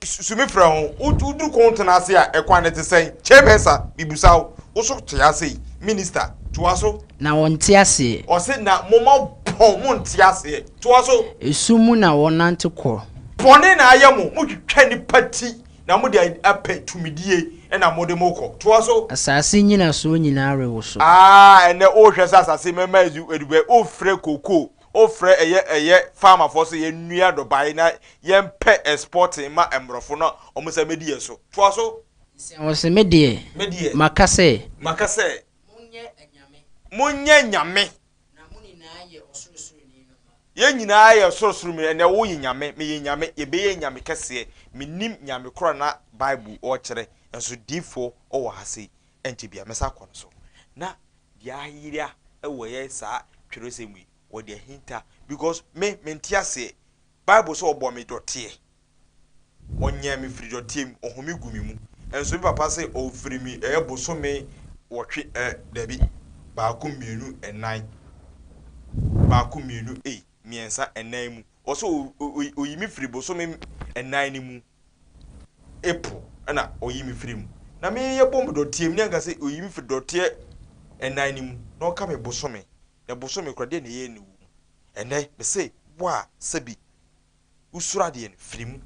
sumifrɛ ho, woduru kɔntena ase a, ɛkwan no te sɛn? Chairpersa, mebisa wo, wo so te asee? Minista, toa so. Na wɔnte aseɛ. Ɔse, na moma pɔn, monte aseɛ. Toa so. Esum mu na wɔnante kɔ. Bɔne na ayɛ mo, motwitwa nnipa ti. Na mo deɛ apɛ tumidie na mo de mo kɔ. Toa so. Asase nyinasoɔ nyinaa rewoso. Aah ɛnɛ wo hwɛ sɛ asase mɛma ɛzu adubɛ wo frɛ cocoa wo frɛ ɛyɛ ɛyɛ farmer foɔ sɛ yɛn nua dɔbae na yɛn pɛ exporting ma ɛmborɔfo na ɔmo sɛ mɛdi yɛn so. Toa so. Sɛ wɔ se me deɛ. Me deɛ. Maka sɛ. Maka sɛ. Mo nyɛ anyame. Mo nyɛ anyame. Na mo nyinaa yɛ Ɔsorosoroni no mma. Yɛn nyinaa yɛ Ɔsorosoro mu, ɛnneɛ wo yɛ Nyame, me yɛ Nyame, yɛbɛyɛ Nyame kɛseɛ, mennim Nyame korɔ na Bible ɔɔkyerɛ, nso diifoɔ ɔwɔ ha sei, ɛnkyɛ biaa mɛsan akɔ no so. Na deɛ ayera wɔ yɛ saa twerɛsɛm yi, wɔde ahinta, because me, mente aseɛ, Bible sɛ ɔbɔɔ me dɔteɛ, Ɔnyɛɛ me firi dɔteɛ mu, ɔhome gu me mu. Nso me papa se ɔfiri me ɛyɛ bosome wɔtwe ɛ, dabi, baako, mmienu, nnan, baako, mmienu, ei, mmiɛnsa, nnan mu. Ɔse ɔyi me firi bosome nnan no mu, April, ɛna ɔyi me firi mu. Na me yɛ bɔ me dɔteɛ mu, ne anka se ɔyi me firi dɔteɛ nnan no mu, na ɔka me bosome. Na bosome kura deɛ na ɛyɛ ne wɔ mu. Ɛnɛ, me se wo a, sɛbi. wo suro adeɛ no firi mu,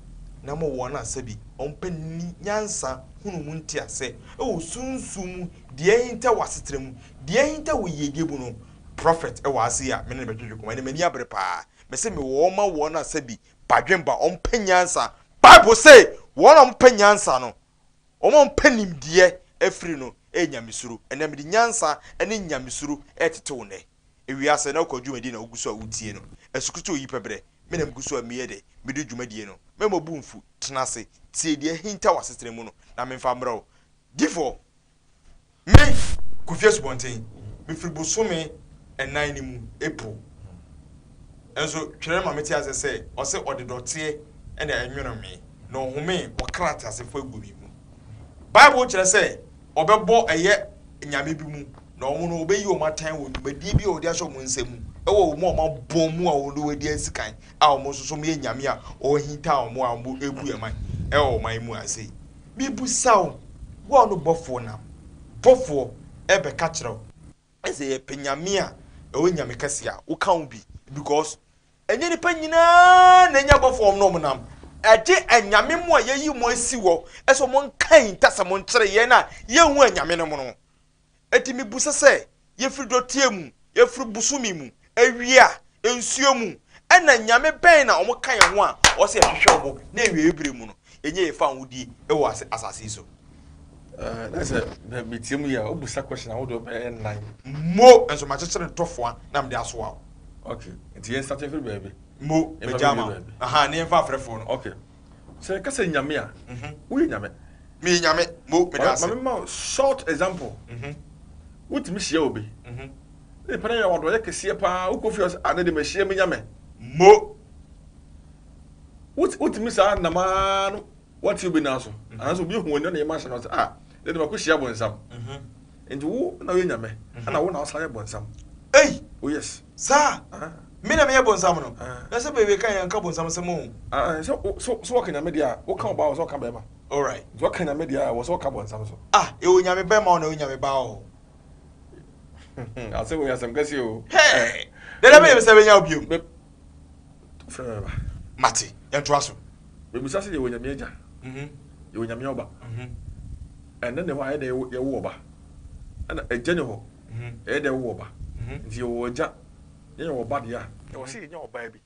na mo wɔn a sɛbi wɔn pɛ nni nyansa hunu mu nteasɛ wɔ sunsum mu deɛ ahinta wɔ asetra mu, deɛ ahinta wɔ yiedie mu no, Prophet wɔ ha sei a me ne no bɛdwedwe koma, ɛnna m'ani abere paa, mese me wɔ wɔn ma wɔn a sɛbi badwen ba wɔn pɛ nyansa, Bible se wɔn a wɔn pɛ nyansa no Wɔn a wɔpɛ nimdeɛ afiri no yɛ nyamesuro. Ɛnna mede nyansa ne nyamesuro retetew nnɛ. Ewiase na wokɔ dwumadi na wugu so a wutie no. Asukrutu a oyi pɛ brɛ me na migu so a meyɛ dɛ midi dwumadi no. Mɛma wo bo mfuw. Tena ase. Tie deɛ ahintaw w'asetena mu no, na memfa mmrɛ wo. Di fɔ. Me, Kofi Asubɔnten, mefiri bosome nnan no mu, April. Nso twerɛ ma mete ase sɛ ɔse ɔde dɔteɛ na ɛnwono me, na ɔhomee ɔkra teasefoɔ agu me mu. Bible kyerɛ sɛ ɔbɛbɔ ɛyɛ nyame bi mu, na wɔn no ɔbɛyi wɔn atan wɔ dwumadie bi a ɔde ahyɛ wɔn nsa mu ɛwɔ wɔn a wɔn abɔ mu a wɔn de wɔadi asi kan a wɔn nso so wɔyɛ nyame a ɔhinta wɔn a wɔbu yɛn man ɛwɔ wɔn mu ase. Mibisa wo, wo a no bɔfoɔ nam, bɔfoɔ, ɛɛbɛka kyerɛ wo. Sɛ yɛpɛ Nyame a, ɛwɔ Nyame kɛseɛ a, woka ho bi, because, ɛnyɛ nipa nyinaa na anya bɔfoɔ a wɔn na wɔn nam, ɛgye Anyame mo a yɛayi mo asi hɔ sɛ wɔn nka yi ntasa mo nkyerɛ yɛn a yɛnhu Anyame nom no. Enti mibisa sɛ, Yefi dɔteɛ mu, yefi bosome mu, awia, nsuo mu, ɛna Nyame bɛn na wɔka yɛn ho a ɔsɛ yɛhwehwɛ wɔn na awiei berɛ mu no yɛnyɛ yɛn fawohodie wɔ asase yi so? Na sɛ metie mu yɛ a, wobusa question ahodoɔ bɛyɛ nnan. Mo nso makyekyere ntɔfoa na mede asoa wo. Okay, nti yɛnsate mfiri baabi. Mo, magyaa ma wo. Aha, ne yɛmfa afrɛfoɔ no. Okay. Sɛ yɛka sɛ Nyame a, woyɛ Nyame. Meyɛ Nyame, Mo, meda ase. Ma me ma wo short example. Wotumi hyia obi, ne nipa no yɛ wo adɔeɛ kɛseɛ paa, wokɔ fie a ɔsɛ ah, ne de mahyia me Nyame. Mo. Wotumi saa nam ara no woate obi nan so, anaasɛ obi ahu w'ani na ne yam ahyɛ no ɔsɛ ah, ne de makɔhyia bonsam. Nti wo na woyɛ nyame ɛna wo na wosan yɛ bonsam ei oh yes saa me na meyɛ bonsam no na sɛ bewie kan yɛ nka bonsam asɛm oo ae sɛ so so wɔka nyame deɛ a woka ɔbaa wɔ sɛ ɔka bɛɛma alright nti wɔka nyame deɛ a wɔ sɛ ɔka bonsam so ah ɛwɔ nyame bɛɛma ɔna ɛwɔ nyame baa ɔɔ asɛ wɔ yɛ asɛm kɛseɛ oo hey dɛdɛ bɛyɛ sɛ bɛnya obiom Frɛ me ba. Mate. Yɛntoa so. Mebisa sɛ, Yɛwɔ Nyame Agya? Yɛwɔ Nyame Ɔba? Ɛnne ne hɔ a, ɛyɛ dɛn yɛwo Ɔba? Ɛna Agya ni hɔ, ɛyɛ dɛn wowo Ɔba? Nti yɛwɔ Agya na yɛwɔ Ɔba deɛ a, ɛwɔ sɛ yɛnya Ɔbaa bi.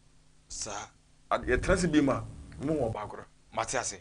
Saa. Yɛtena ase bio mu a, mohu Ɔbaa koro. Mate ase.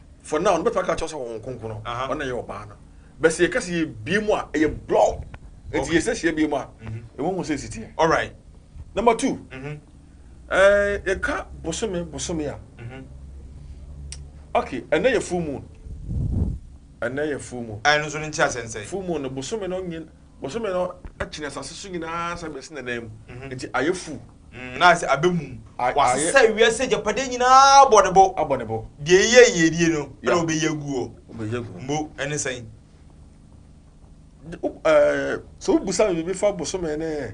for now no bɛtumi aka kyerɛ sɛ wɔn nkonkono ɔna yɛ ɔbaa no bɛ sɛ yɛka sɛ yɛbie mu a ɛyɛ blɔ nti yɛsɛ hyɛ bie mu a ɛwɔ hu sɛ ɛsi teɛ alright number two yɛka bosome bosome a okay ɛnɛ yɛ full moon ɛnɛ yɛ full moon ɛno nso no nkyɛ asɛnsɛn full moon no bosome no nyin bosome no akyina asase so nyinaa sɛ bɛsi nanam nti ayɛ full Mm, na sɛ abɛ mum. Wasesa wiase agyapadeɛ nyina ara abɔ ne bo. Abɔ ne bo. Deɛ ɛyɛ yiedie no, ɛna ɔbɛyi aguo. Ɔbɛyi aguo. Mbo, ɛne sɛn? Ɛɛ, sɛ wobusa me biribi fa bosome ne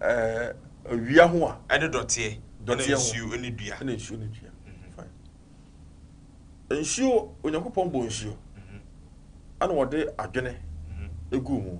ɛɛ awia ho a. Ɛne dɔteɛ. Dɔteɛ ho. Ɛne nsuo ne dua. Ɛne nsuo ne dua. Nsuo, Onyankopɔn bɔ nsuo. Ɛna ɔde adwene egu mu.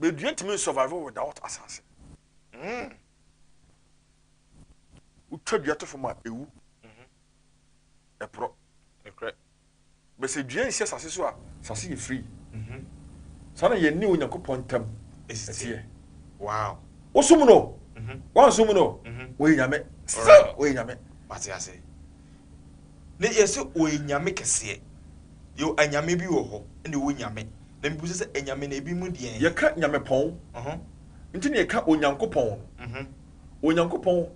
Bɛdua ntumi nsurvive without asase. Mm. Wotwa dua to fam a, ɛwu. Mhm. Ɛporɔ. Ɛkorɛ. Bɛsɛ dua nsi asase so a, asase yɛ free. Mhm. Saa na yɛn ne Onyankopɔn ntam ɛteɛ. Wow. Wosom no, mhm. wansom no, mhm. wɔyɛ nyame. Still, wɔyɛ nyame. Mate ase. Ne yɛse ɔyɛ nyame kɛseɛ. Yɛwɔ anyame bi wɔ hɔ ɛna ɛwɔ nyame na mebisa sɛ anyame no ebi mu deɛn. Yɛka nyamepɔn nti na yɛka Onyankopɔn no. Onyankopɔn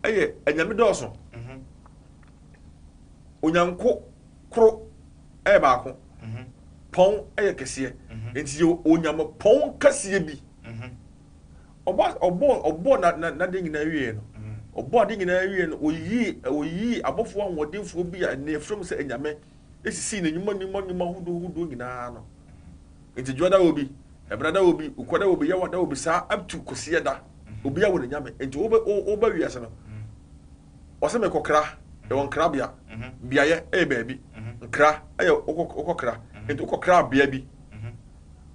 yɛ anyame dɔɔso. Onyanko koro yɛ baako. Pɔn yɛ kɛseɛ. Nti yɛwɔ onyamepɔn kɛseɛ bi. Ɔbɔ as ɔbɔɔ ɔbɔɔ na na n'ade nyinaa wieeɛ no, ɔbɔɔ ade nyinaa wieeɛ no, ɔyii ɔyii abɔfoɔ ahoɔdenfoɔ bi a na yɛfrɛ mu sɛ anyame sisii n'anwuma nnwuma nnwuma ahodoɔ hodoɔ nyinaa ano. Nti dwoɔ da obi, ɛberɛ da obi, ukɔ da obi, yawa da obi saa up to Kwasiada obiara wɔ ne nyame. Nti wobɛ wo woba wiase no, Ɔse mekɔ kra yɛwɔ nkra bea beaeɛ ɛyɛ baabi nkra ɛyɛ wokɔ kra nti wokɔ kra bea bi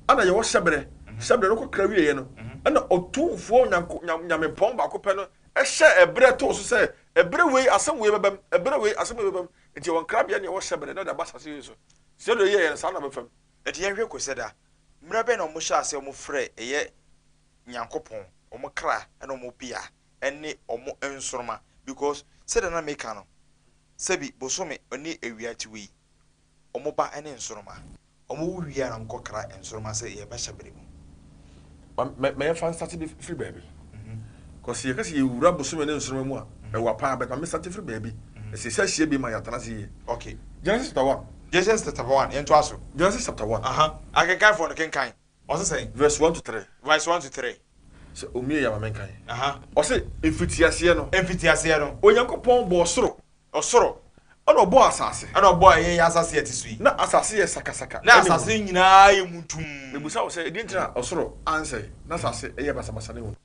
ɛna yɛwɔ hyɛbrɛ hyɛbrɛ no wokɔ kra wieɛ no ɛna ɔtumfoɔ nyamepɔn baako pɛ no ɛhyɛ ɛbrɛ too so sɛ ɛbrɛ wei asɛm wei bɛbɛm ɛbrɛ wei asɛm wei bɛbɛm nti yɛwɔ nkra bea ne yɛwɔ hyɛbrɛ na ɔde aba sase wei so sɛ deɛ yɛyɛ no saa na bɛfam nti yɛnhwɛ kɔ sɛ da mmerɛ bɛn na wɔhyɛ aseɛ wɔfrɛ ɛyɛ nyankopɔn wɔn kra ɛna wɔn bea. ne wɔn nsoroma because sɛdeɛ na meka no sɛbi bosome ne awia ti wei wɔn ba ne nsoroma. Wɔn wo wie a na wɔn kɔ kra nsoroma sɛ yɛ bɛ hyɛ bere mu. Ma yɛ nfa nsate bi firi baabi cos sɛ yɛ ka sɛ yɛ wura bosome ne nsoroma mu a ɛwa paa but ma me nsate firi baabi na sɛ yɛ sa hyia bi ma yɛ atena ase yie. Ok. Genesis chapter one. Genesis chapter one yɛ ntoa so. Genesis chapter one. Akenkanfoɔ no kenkan. Ɔse sɛn? Verse one to three. Verse one to three. Sɛ omie ya ma me nkan. Aha. Ɔse mfitiaseɛ no. Mfitiaseɛ no. Onyankopɔn bɔɔ soro. Ɔsoro. Ɛna ɔbɔɔ asase. Ɛna ɔbɔɔ ɛyɛ yɛ asase yɛ te so yi. Na asase yɛ sakasaka. Na asase nyinaa yɛ muntum. Mebusa wo sɛ ɛdeɛ nti na ɔsoro ansɛe na asase yɛ basabasa ne hunu.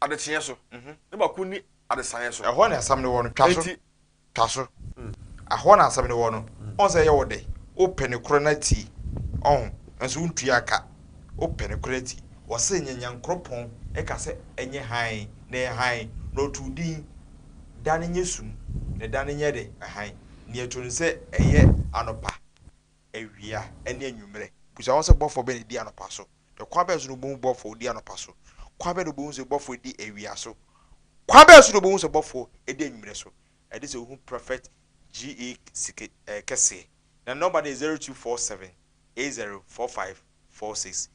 adekyeɛ so, na baako nni adesaeɛ so. Ɛhɔ na asɛm no wɔ no, twa so, twa so. Ɛhɔ na asɛm no wɔ no. Wohu sɛ ɛyɛ wo dɛ? Wopɛ nokorɛ no atie, ɔho, nanso wontua ka. Wopɛ nokorɛ atie. Wɔse nyɛ Nyankoropɔn ka sɛ ɛnyɛ hann, na ɛyɛ hann, na ɔtoo din, da no nyɛ sum, na da no nyɛ dɛ, hann. Nea ɛto no sɛ ɛyɛ anɔpa, awia, ne anwummerɛ. Bisa wo ho sɛ bɔfoɔ bɛn na ɛdi anɔpa so? Kwa bɛn so na obohu bɔfoɔ odi anɔpa so? Kwa bɛn na obohu sɛ bɔfoɔ edi awia so? Kwa bɛn so na obohu sɛ bɔfoɔ edi anwummerɛ so? Ɛde sɛ ohu Prophet GA sike eh, kɛseɛ. Na ne nɔmba no yɛ zero two four seven eight zero four five four six.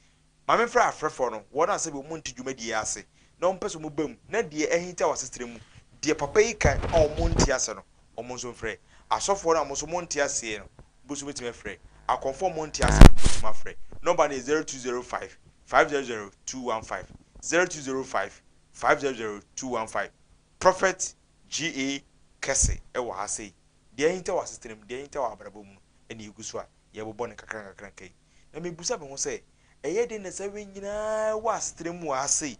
Ma me mfrɛ afrɛfoɔ no, wɔn a sɛbi wɔn nte dwumadie yi ase na wɔn pɛ sɛ wɔn ba mu na deɛ ahinta wɔ asetra mu, deɛ papa yi kan a wɔn nte ase no, Wɔn nso mfrɛ. Asɔfoɔ no a wɔn nso monte aseɛ no, mo nso mobɛtumi afrɛ. Akɔmfoɔ a monte aseɛ no, mobɛtumi afrɛ. Nɔmba no yɛ 0205 500 215, 0205 500 215. Prophet GA kɛse wɔ ha sei. Deɛ ahinta wɔ asetena mu, deɛ ahinta wɔ abrabɔ mu no na ɛgu so a yɛrebobɔ no nkakra nkakra nkakra yi. Na mebisa me ho sɛ, ɛyɛ dɛn na saa wei nyinaa wɔ asetena mu wɔ ha sei?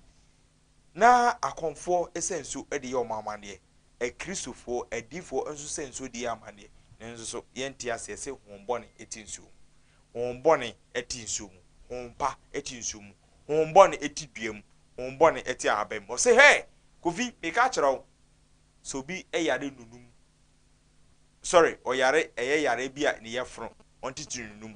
Ná akɔmfoɔ sɛ nsuo de yɛ wɔn amanneɛ, Akristofoɔ adiyifoɔ nso sɛ nsuo de yɛ amanneɛ. Nanso so yɛnte aseɛ sɛ honhom bɔne te nsuo mu? Honhom bɔne te nsuo mu, honhom pa te nsuo mu, honhom bɔne te dua mu, honhom bɔne te ahaban mu. Ɔse, Hɛ! Kofi, meka akyerɛ wo, sɛ obi yare nunum, sorry, ɔyare, ɛyɛ yareɛ bi a ne yɛfono, ɔntitiri nunum.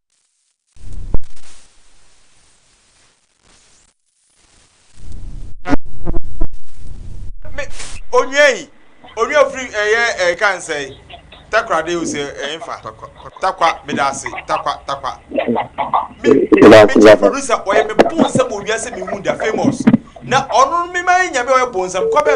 onua yi onua firi ɛyɛ ɛyɛ kansa yi takoradi o sɛ ɛyɛ nfa takwa meda ase takwa takwa mi mi gye producer ɔyɛ mi bon nsɛm wɔ wia sɛ mi hu da famous na ɔno mi ma yɛ nyame ɔyɛ bon nsɛm kɔbɛ.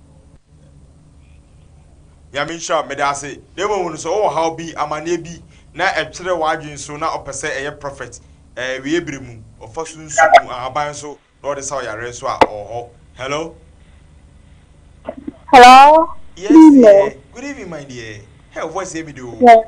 Nyame nhyira wo, meda ase. Na mmom hunu sɛ wowɔ haw bi, amaneɛ bi, na ɛtwerɛ w'adwene so na ɔpɛ sɛ ɛyɛ prophet, ɛɛ awieɛ berɛ mu, ɔfa sunsum mu ahaban so na ɔde sa wo yareɛ nso a, ɔwɔ hɔ. Hello. Hello, good Yes evening. deɛ, good evening my dear. Hɛ wo voice yɛ me de o. Yes.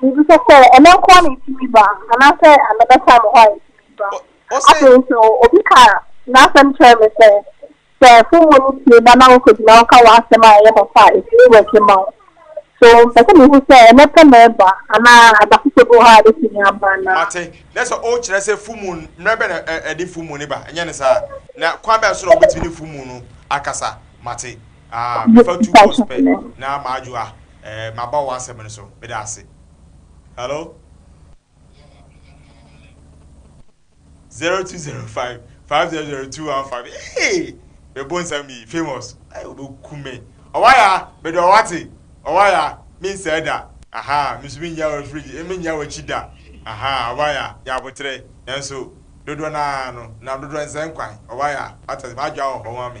Biribi sɛ sɛ ɛno nko ara na ɛtumi ba anaasɛ mɛbɛtra mo hɔ a ɛtumi ba. Afei nso obi ka n'asɛm kyerɛɛ me sɛ, sɛ fon mu no pue ba na wokɔgyina hɔ ka w'asɛm a ɛyɛ papa a, ɛtumi wɛke ma wo. So mepɛ sɛ mehu sɛ ɛnnɛ pɛ na ɛba anaa ada foforɔ bi wɔ hɔ a ɛbɛtumi aba anaa? Mate. Na sɛ wokyerɛ sɛ fon mu, mmerɛ bɛn na ɛde fon mu no ba, ɛnyɛ ne saa? Na kwan bɛn so na wobɛtumi ne fon mu no akasa? Mate. Ah, mefa two calls pɛ na madwo a, eh, maba wo asɛm no so. Meda ase. Hello? 0205 500215. Hey! Mebo nsɛm bi, famous. Hey, wobɛku me. Ɔwaya, mede ɔwate. Ɔwaya, mensɛe da. Aha, mesu mennya wɔ fridge, eh, mennya w'akyi da. Aha, ɔwaya, yɛ aboterɛ. Nanso, dodoɔ no ara no, nam dodoɔ nsɛe nkwan. Ɔwaya, wate ase, madwo a wɔ hɔ ma me.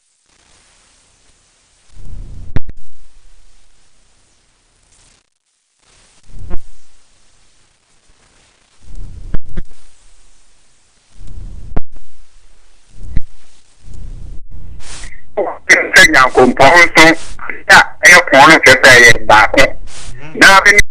sɛ nyankompɔn nso a ɛyɛ pɔn no kyerɛ sɛ ɛyɛ baako na bɛne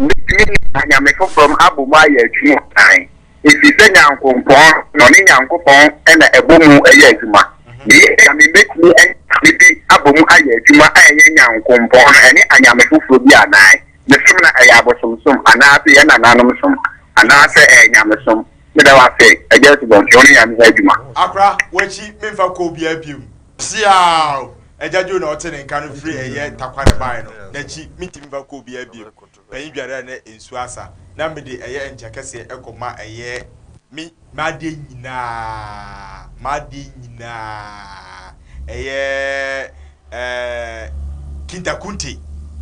bɛtumi ne anyame foforɔ m abɔ mu ayɛ adwuma kan efisɛ Nyankompɔn na ɔne Nyankopɔn na ɛbɔmu yɛ adwuma. Meyɛ Nyame mɛtumi ɛne Nyame bi abɔmu ayɛ adwuma a ɛyɛ Nyankompɔn no ɛne anyame foforɔ bi anaa? Mesom no ɛyɛ abosomsom anaase yɛn nananom som anaasɛ ɛyɛ nyamesom? Meda wo ase Agya Asubɔnten wo ne Nyame yɛ adwuma. Akora wakyi menfa kɔ obiaa biom. Siaaw! Agya Joe na ɔte ne nka no firi ɛyɛ Takware bae no, nakyi mentumi mfa kɔ obiaa biom. panyin dware a na nsu asa, na mede ɛyɛ nkyɛ kɛseɛ kɔ ma ɛyɛ me. M'adeɛ nyinaa, m'adeɛ nyinaa, ɛyɛ eh, Kinta Kunte,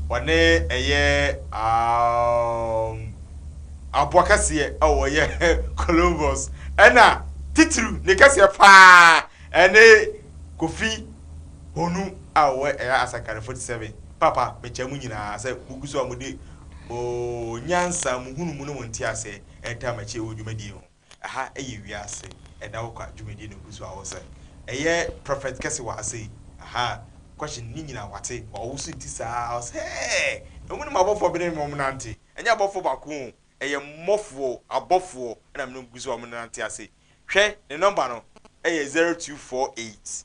ɔne ɛyɛ aah, aboa kɛseɛ a ɔyɛ Columbus, ɛna titiriw ne kɛseɛ paa ɛne Kofi Honu a ɔwɔ ɛyɛ Asankare 47. Papa, mekyɛ mo nyinaa sɛ mugu so a mode mo nyansa, mo nhunumu ne mo nteaseɛ retaa m'akyi wɔ dwumadie yi ho. Ɛha yɛ wiase ɛnna wo kwa dwumadie na ɛgu so a wosɛ ɛyɛ prophet kɛse wɔ ha sei ahaa question ne nyina wate ma ɔwo so nti saa ara ɔsɛ hɛɛ ɛmu ne m'abɔfoɔ bene me ɔmo nante ɛnyɛ abɔfoɔ baako oo ɛyɛ mmɔfoɔ abɔfoɔ ɛna mene ɔmo gu so a ɔmo nante ase hwɛ ne number no ɛyɛ zero two four eight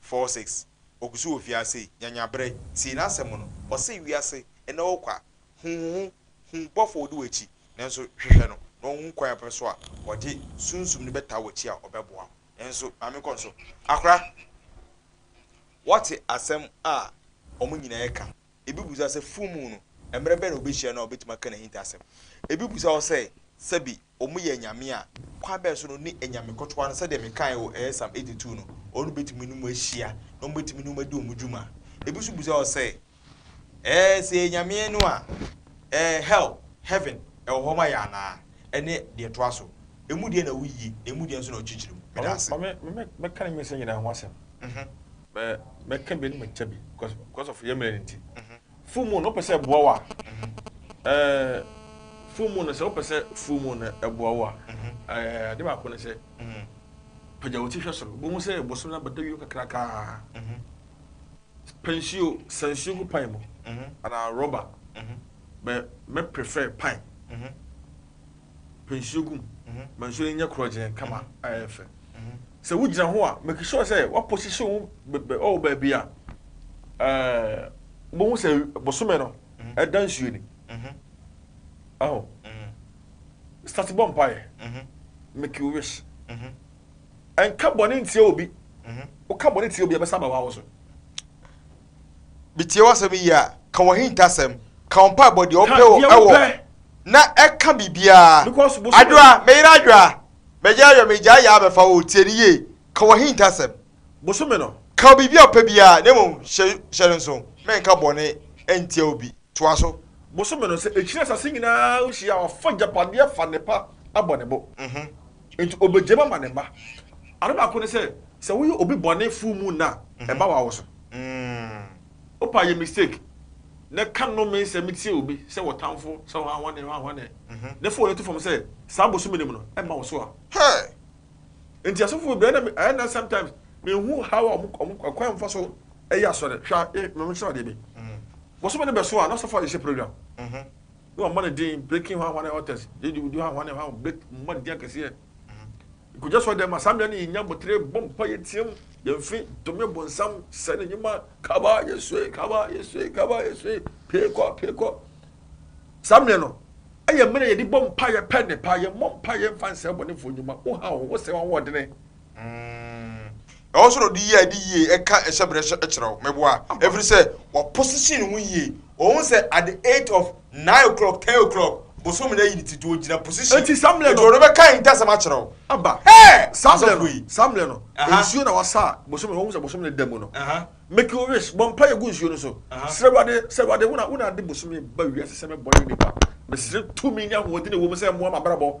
four six, Ogu so wɔ fie ha sei, nya nyaberɛ, tie n'asɛm no, ɔse wiase nnɛ hɔ kwa, hu wo ho, hu bɔfo a ɔdi w'akyi, nanso hwehwɛ no na ɔhu kwan a wobɛfa so a ɔde Sunsum no bɛtaa w'akyi a ɔbɛboa wo. Nanso maame kɔ nso, akora, wɔte asɛm a wɔn nyinaa reka, ebi bisa sɛ full moon no, mmerɛ bɛn na ɔbɛhyia no a ɔbɛtumi aka n'ahintasɛm, ebi bisa hɔ sɛ sɛbi Wɔyɛ anyame a, kwan bɛn so na wɔne anyame kɔtoa no? Sɛdeɛ mekaeɛ wɔ ɛyɛ Psalm eighty two no, wɔn bɛtumi ne wɔn ahyia, na wɔbɛtumi ne wɔn adi wɔn dwuma. Ebi nso bisa wɔn sɛ, Ɛɛ, sɛ yɛyɛ anyame no a, ɛɛ, hell, heaven, wɔ hɔ ma yɛn anaa? Ɛne deɛ ɛtoa so. Emu deɛ na ɛwɔ yie, na emu deɛ nso na ɔkyekyere mu. Meda ase. Ma me, ma me, mɛka ne nyinsɛn nyinaa ho asɛm. Mɛ, mɛka bi na makyɛ bi, cause, cause of yɛn mmerɛ no nti. Full moon no wopɛ sɛ ɛboa wo a, ɛɛ full moon no sɛ wopɛ sɛ full moon no ɛboa wo a, ɛɛ ade baako ne sɛ pagya wo ti hwɛ soro. Bohu sɛ bosom no abɛda wie kakraka. Pɛ nsuo, sa nsuo gu pan mu anaa rɔba, bɛ mɛ prefer pan. pɛ nsuo gu mu ma nsuo no nyɛ korɔgyenn kama a ɛyɛ fɛ. Sɛ wogyina ho a, make sure sɛ woaposihye wo wɔ baabi a wobɛhu sɛ bosome no ɛda nsuo ni. Aho. Start bɔ mpaeɛ. Make your wish. Ɛnka bɔne ntia obi. Woka bɔne tia obi a, ɛbɛsa aba wo so. Metie w'asɛm yiye a, ka w'ahintasɛm, ka wo mpaebɔ deɛ wopɛ o ɛwɔ, na ɛka biribiara. Adwoa, me yere Adwoa, mɛgye ayɔ, megyae yɛ abɛfa wo o, tie no yie, ka w'ahintasɛm, ka biribi a wopɛ biara, na mmom hyɛ hyɛ no nso, mɛnka bɔne ntia obi. Toa so. Bosome no, sɛ ɛkyiri asase nyinaa nhyia a, ɔfa agyapadeɛ fa nnepa abɔ ne bo. Enti obegyam ama ne mma. Ade baako ne sɛ, sɛ woyɛ obi bɔne fuu mu nna a, ɛba wo awo so. Wo paa yɛ mistake na ka nnome nsɛm tia obi sɛ wo tamfo, sɛ hwanhwane, hwanhwane, na fa w'ani to fam sɛ saa bosome no mu no, ɛmma wo so a. Hey! Enti asɔfo bebree na ɛyɛ nnɛ sometimes minhu how a wɔn wɔn kwan a wɔfa so yɛ asɔre. Hwɛ a, eh, mɛkyerɛ adeɛ bi. Bosome no bɛso a, na asɔfo ayɛ hyɛ program. Ne wɔn mmɔ no din breaking hwanhwa ne authors yɛ di wudi hwanhwa ne hwanhwa break mmɔ no din akɛseɛ nkogya sɔ dɛm a saa mmerɛ no yɛ nya botere bɔ mpa yɛ team yɛn fi tome bonsam sɛ ne nyuma kaba yɛ sue kaba yɛ sue kaba yɛ sue pee kɔ pee kɔ saa mmerɛ no ɛyɛ mmerɛ yɛde bɔ mpa yɛ pɛ ne pa yɛ mmɔ mpa yɛ mfa nsɛ bɔnefoɔ nyuma wo ha wo ho sɛ wɔn wɔdene Mm, ɛwɔ sɛ ɔde yie a ɛde yie ka ɛhyɛbrɛ hyɛ kyerɛ wo meboa ɛfiri sɛ waposition ho yie ɔhu sɛ at the eight of nine o'clock ten o'clock bosom no ayi ne ti nti ɔgyina position nti samlɛ no ɔde bɛka ntasɛm akyerɛ wo aba samlɛ no samlɛ no nsuo na wasa bosom no ɔhu sɛ bosom no da mu no make your wish bɔ mpa yɛ gu nsuo no so srɛ wade srɛ wade wona wona ade bosom ba wiase sɛ mɛbɔ ne nipa mesrɛ tumi ne ahoɔden ɛwɔ mu sɛ mmoa mabrabɔ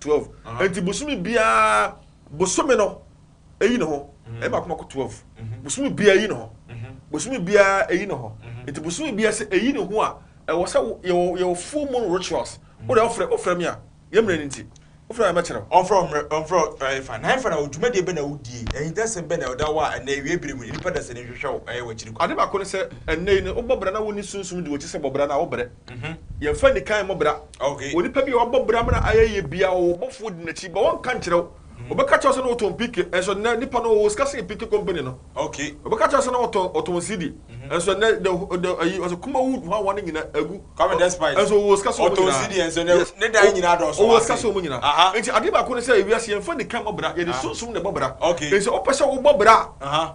twelve nti bosome biara bosome no eyi ne ho ɛyɛ baako baako twelve bosome biara eyi ne ho bosome biara eyi ne ho nti bosome biara sɛ eyi ne ho a ɛwɔ sɛ yɛwɔ yɛwɔ full moon rituals o de ɔfrɛ ɔfrɛ mi a yɛ mmerɛ ne nti ɔfrɛ mi mɛkyerɛ o. ɔfrɛ ɔmmerɛ ɔfrɛ ɛyɛ fa na ɛfa na odwumadie bɛ na odie ɛhintasɛm bɛ na ɔda hɔ a ɛnna ewia bere mu nipa dasani hwehwɛ o ɛyɛ wɔ akyiri kɔ. Ade baako ne sɛ ɛnna yi no wobɔ bra na wonni sunsum di wɔ akyi sɛ bɔ bra no a wobrɛ. Yɛmfa nni kan mmɔ bra. Onipa bi a wabɔ bra ma no ayɛ yie biara, ɔwɔ ɔbɔfoɔ di n'akyi, but wɔnka nkyerɛ wo. Wɔbɛka kyerɛ wo sɛ na ɔtɔn PK, nso nnɛ nipa no ɔwɔ sika sen PK company no. Wɔbɛka kyerɛ wo sɛ na ɔtɔn ɔtɔn CD, nso nnɛ the the ayi ɔsɛ Kumawood hɔ awa no nyina agu, nso ɔwɔ sika sen wɔn nyinaa. Yes, ɔwɔ sika sen wɔn nyinaa. Nti adeɛ baako ne sɛ, wiase yɛmfa nni kan mmɔ bra, yɛde sunsum na ɛbɔ bra. Nti sɛ wopɛ sɛ wobɔ bra a.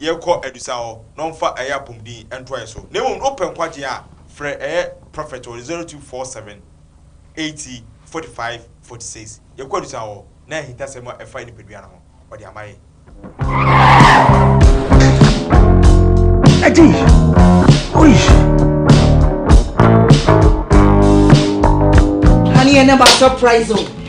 yɛkɔ adusa hɔ na ɔmfa ɛyɛ apɔmuden ntoa yɛ so na mmom no opɛ nkwagyeɛ a frɛ ɛyɛ prophet wɔ 0247 80 45 46 yɛkɔ adusa hɔ na ahintasɛm a ɛfa yɛ nipadua no ho ɔde ama yɛ. Eddie! Oi! Honey, I never surprise you.